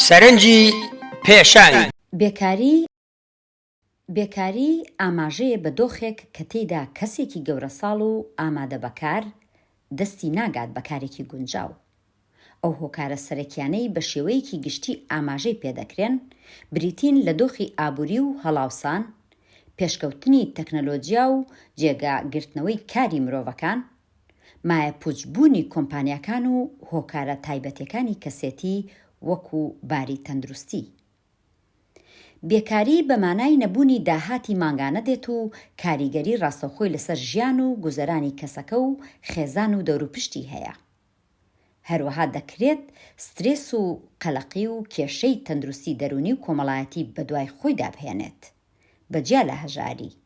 سەرنجی پێشانی. بێکاری، ئاماژەیە بە دۆخێک کە تێیدا کەسێکی گەورەساڵ و ئامادە بە کار، دەستی ناگات بە کارێکی گونجاو. ئەو هۆکارە سەرەکیانەی بە شێوەیەکی گشتی ئاماژەی پێدەکرێن، بریتین لە دۆخی ئابووری و هەڵاوسان، پێشکەوتنی تەکنەلۆجیا و جێگا گرتنەوەی کاری مرۆڤەکان، مایەپوچ بوونی کۆمپانیاکان و هۆکارە تایبەتێکانی کەسێتی وەکو باری تەندروستی. بێکاری بە مانای نەبوونی داهاتی مانگانە دێت و کاریگەری ڕاستەوخۆی لەسەر ژیان و گوزەرانی کەسەکە و خێزان و دەوروپشتی هەیە. هەروەها دەکرێت سترێس و قەلەقی و کێشەی تەندروستی دەروونی و کۆمەڵایەتی بەدوای خۆیدا بهێنێت بە جیا لە هەژاری.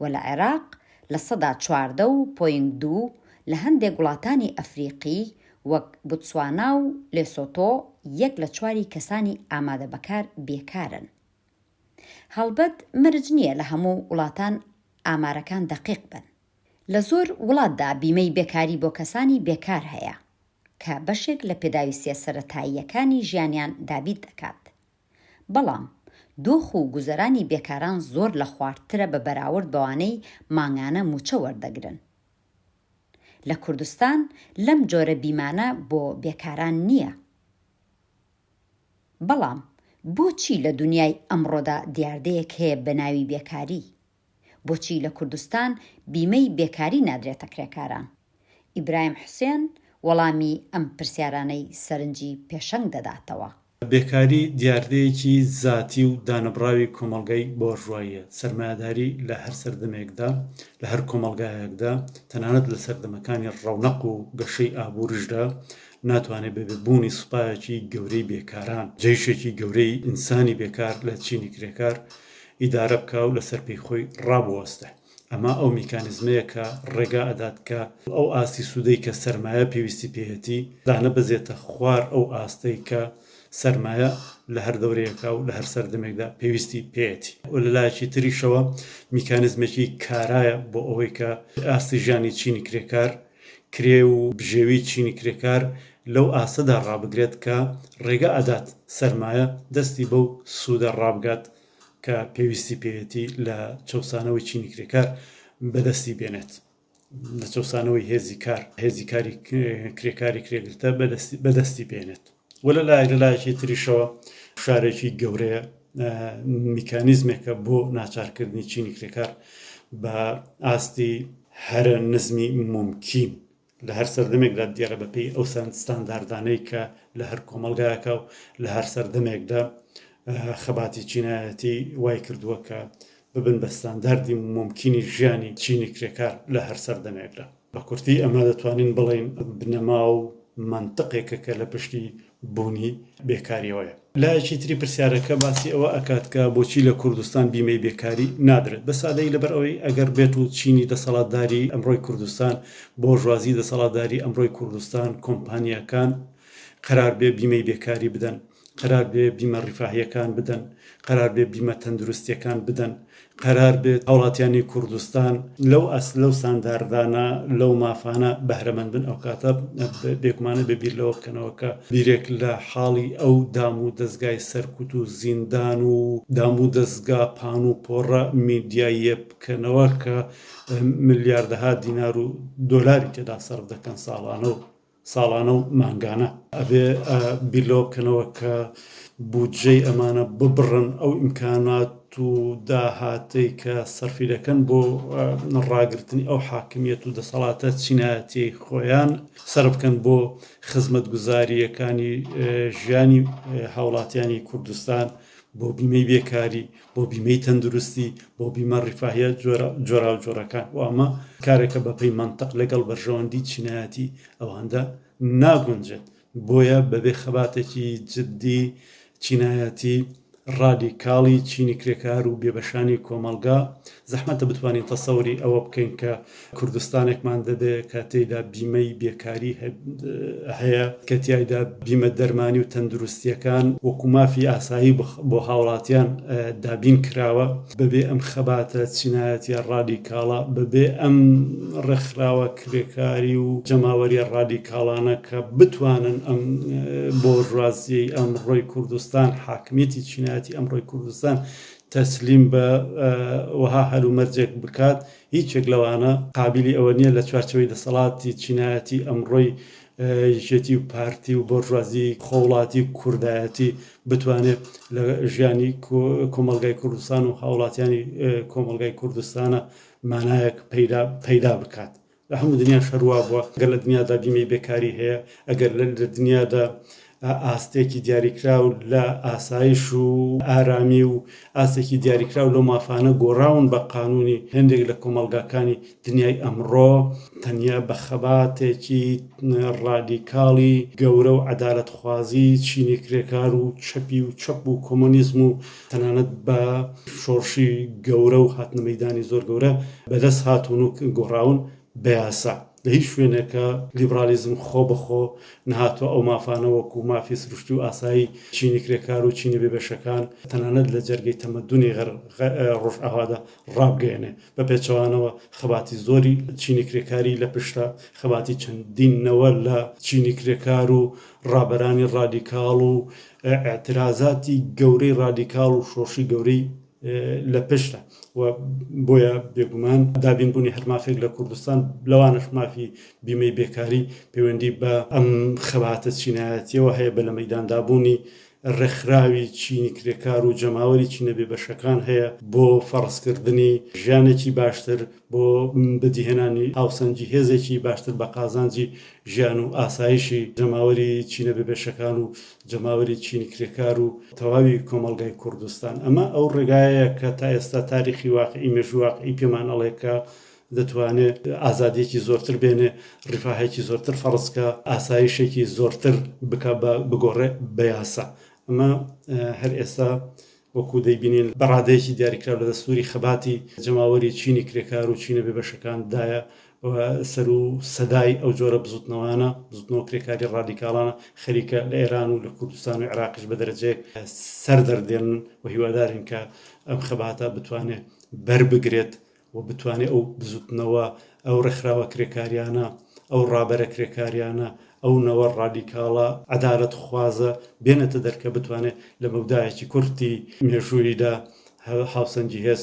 و لە عێراق لە سەدا چواردە و پۆینت دوو لە هەندێک وڵاتانی ئەفریقی وەک بوتسوانا و لێسۆتۆ یەک لە چواری کەسانی ئامادە بەکار بێکارن. هەڵبەت مەرج نییە لە هەموو وڵاتان ئامارەکان دەقیق بن. لە زۆر وڵاتدا بیمەی بێکاری بۆ کەسانی بێکار هەیە، کە بەشێک لە پێداویستییە سەرەتاییەکانی ژیانیان دابیت دەکات. بەڵام دۆخ و گوزەرانی بێکاران زۆر لە خواردترە بە بەراورد بەوانەی مانگانە مووچە وەردەگرن. لە کوردستان لەم جۆرە بیمانە بۆ بێکاران نییە. بەڵام بۆچی لە دونیای ئەمڕۆدا دیاردەیەک هەیە بەناوی بێکاری؟ بۆچی لە کوردستان بیمەی بێکاری نادرێتە کرێکاران؟ ئیبراهیم حوسێن وەڵامی ئەم پرسیارانەی سەرنجی پێشەنگ دەداتەوە. بێکاری دیاردەیەکی زاتی و دانەبڕاوی کۆمەڵگای بۆرژواییە. سەرمایەداری لە هەر سەردەمێکدا، لە هەر کۆمەڵگایەکدا، تەنانەت لە سەردەمەکانی ڕەونەق و گەشەی ئابووریشدا، ناتوانێت بەبێ بوونی سوپایەکی گەورەی بێکاران، جەیشێکی گەورەی ئینسانی بێکار لە چینی کرێکار، ئیدارە بکا و لەسەر پێی خۆی ڕابوەستێ. ئەمە ئەو میکانیزمەیە کە ڕێگا ئەدات کە ئەو ئاستی سوودەی کە سەرمایە پێویستی پێیەتی، دانەبەزێتە خوار ئەو ئاستەی کە سەرمایە لە هەر دەورەیەکا و لە هەر سەردەمێکدا پێویستی پێیەتی. و لە لایەکی تریشەوە میکانیزمێکی کارایە بۆ ئەوەی کە ئاستی ژیانی چینی کرێکار، کرێ و بژێوی چینی کرێکار لەو ئاستەدا ڕابگرێت کە ڕێگە ئەدات سەرمایە دەستی بەو سوودە ڕابگات کە پێویستی پێیەتی لە چەوسانەوەی چینی کرێکار بەدەستی بێنێت، لە چەوسانەوەی هێزی کار، هێزی کاری کرێکاری کرێگرتە بەدەستی بەدەستی بێنێت. وە لە لایەک لە لایەکی تریشەوە فشارێکی گەورەیە میکانیزمێکە بۆ ناچارکردنی چینی کرێکار بە ئاستی هەرە نزمی ممکین لە هەر سەردەمێکدا دیێرە بەپی ئەو سند ستانداردانەی کە لە هەر کۆمەلگایەکە و لە هەر سەردەمێکدا خەباتی چینایەتی وای کردووە کە ببن بە ستانداردی ممکنی ژیانی چینی کرێکار لە هەر سەردەمێکدا بە کورتی ئەمە دەتوانین بڵێین بنەما و مەنتقێکە کە لە پشتی بوونی بێکاریەوەیە. لایەکی تری پرسیارەکە باسی ئەوە ئەکات کە بۆچی لە کوردستان بیمەی بێکاری نادرێت؟ بە سادەیی لەبەر ئەوەی ئەگەر بێت و چینی دەسەڵاتداری ئەمڕۆی کوردستان، بۆرژوازی دەسەڵاتداری ئەمڕۆی کوردستان، کۆمپانیاکان قەرار بێ بیمەی بێکاری بدەن، قەرار بێ بیمە ڕیفاهیەکان بدەن، قەرار بێ بیمە تەندروستیەکان بدەن، قەرار بێ هاوڵاتیانی کوردستان لەو ئاست لەو ستانداردانە لەو مافانە بەهرەمەند بن ئەوکاتە بێگومانە بێ بیر لەوە بکەنەوە کە بیرێک لە حاڵی ئەو دام و دەزگای سەرکوت و زیندان و دام و دەزگا پان و پۆڕە میدیاییە بکەنەوە کە ملیاردەها دینار و دۆلاری تێدا سەرف دەکەن ساڵانە و ساڵانە و مانگانە. ئەبێ بیر لەوە بکەنەوە کە بودجەی ئەمانە ببڕن، ئەو ئیمکانات و داهاتەی کە سەرفی دەکەن بۆ ڕاگرتنی ئەو حاکمییەت و دەسەڵاتە چینایەتیەی خۆیان، سەرف بکەن بۆ خزمەتگوزارییەکانی ژیانی هاوڵاتیانی کوردستان. بۆ بیمەی بێکاری، بۆ بیمەی تەندروستی، بۆ بیمە ڕیفاهیە جۆراوجۆرەکان و ئەمە کارێکە بەپێی مەنتق لەگەڵ بەرژەوەندی چینایەتی ئەواندا ناگونجێت، بۆیە بەبێ خەباتێکی جددی چینایەتی ڕادیکاڵی چینی کرێکار و بێبەشانی کۆمەڵگا زەحمەتە بتوانین تەسەوری ئەوە بکەین کە کوردستانێکمان دەبێ کە تێیدا بیمەی بێکاری هەیە، کە تیایدا بیمە دەرمانی و تەندروستییەکان وەکو مافی ئاسایی بۆ هاوڵاتیان دابین کراوە، بەبێ ئەم خەباتە چینایەتیە ڕادیکاڵە، بەبێ ئەم ڕێکخراوە کرێکاری و جەماوەریە ڕادیکاڵانە کە بتوانن ئەم بۆرژوازیەی ئەمڕۆی کوردستان، حاکمیەتی چینایەتی ئەمڕۆی کوردستان تەسلیم بە وەها هەلومەرجێک بکات، هیچ یەک لەوانە قابیلی ئەوە نییە لە چوارچێوەی دەسەڵاتی چینایەتی ئەمڕۆی یەکێتی و پارتی و بۆرژوازی خۆوڵاتی و کوردایەتی بتوانێت لە ژیانی کۆمەڵگای کوردستان و هاوڵاتیانی کۆمەڵگای کوردستانە مانایەک پەیدا بکات لە هەموو دنیاش هەر وا بووە، گەر لە دنیادا بیمەی بێکاری هەیە، ئەگەر لە دنیادا ئاستێکی دیاریکراو لە ئاسایش و ئارامی و ئاستێکی دیاریکراو لەو مافانە گۆڕاون بە قانوونی، هێندێک لە کۆمەڵگاکانی دنیای ئەمڕۆ تەنیا بە خەباتێکی ڕادیکاڵی گەورە و عەدالەتخوازی چینی کرێکار و چەپی و چەپ و کۆمۆنیزم و تەنانەت بە شۆڕشی گەورە و هاتنە مەیدانی زۆر گەورە بەدەست هاتوون و گۆڕاون بە یاسا. لە هیچ شوێنێکە لیبرالیزم خۆ بە خۆ نەهاتووە ئەو مافانە وەکوو مافی سروشتی و ئاسایی چینی کرێکار و چینی بێبەشەکان تەنانەت لە جەرگەی تەمەدوونی ڕۆژئاوادا ڕابگەیەنێ. بە پێچەوانەوە خەباتی زۆری چینی کرێکاری لە پشتە، خەباتی چەندین نەوە لە چینی کرێکار و ڕابەرانی ڕادیکاڵ و ئیعترازاتی گەورەی ڕادیکاڵ و شۆڕشی گەورەی لە پشتە و بۆیە بێگومان دابینبوونی هەر مافێک لە کوردستان لەوانەش مافی بیمەی بێکاری پەیوەندی بە ئەم خەباتە چینایەتیەوە هەیە بە لە مەیداندابوونی ڕێکخراوی چینی کرێکار و جەماوەری چینە بێبەشەکان هەیە بۆ فەڕزکردنی ژیانێکی باشتر بۆ بەدیهێنانی هاوسەنگی هێزێکی باشتر بە قازانجی ژیان و ئاسایشی جەماوەری چینە بێبەشەکان و جەماوەری چینی کرێکار و تەواوی کۆمەڵگای کوردستان. ئەمە ئەو ڕێگایەیە کە تا ئێستا تاریخی واقعی، مێژووی واقعی پێمان ئەڵێ کە دەتوانێ ئازادییەکی زۆرتر بێنێ، ڕیفاهێکی زۆرتر فەرز کا، ئاسایشێکی زۆرتر بکا بە بگۆڕێ بە یاسا. ئەمە هەر ئێستا وەکو دەیبینین بە ڕادەیەکی دیاریکراو لە دەستووری خەباتی جەماوەری چینی کرێکار و چینە بێبەشەکان دایە و سەر و سەدای ئەو جۆرە بزووتنەوانە، بزووتنەوە کرێکاری ڕادیکاڵانە خەریکە لە ئێران و لە کوردستان و عێراقیش بە دەرەجەیەک سەر دەردێنن و هیوادارین کە ئەم خەباتە بتوانێ بەر بگرێت و بتوانێت ئەو بزوتنەوە، ئەو ڕێکخراوە کرێکاریانە، ئەو ڕابەرە کرێکاریانە، ئەو نەوە ڕادیکاڵە عەدالەتخوازە بێنێتە دەر کە بتوانێت لە مەودایەکی کورتی مێژووییدا هاوسەنگی هێز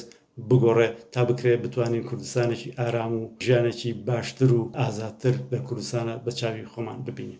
بگۆڕێت تا بکرێت بتوانین کوردستانێکی ئارام و ژیانێکی باشتر و ئازادتر لە کوردستانە بە چاوی خۆمان ببینین.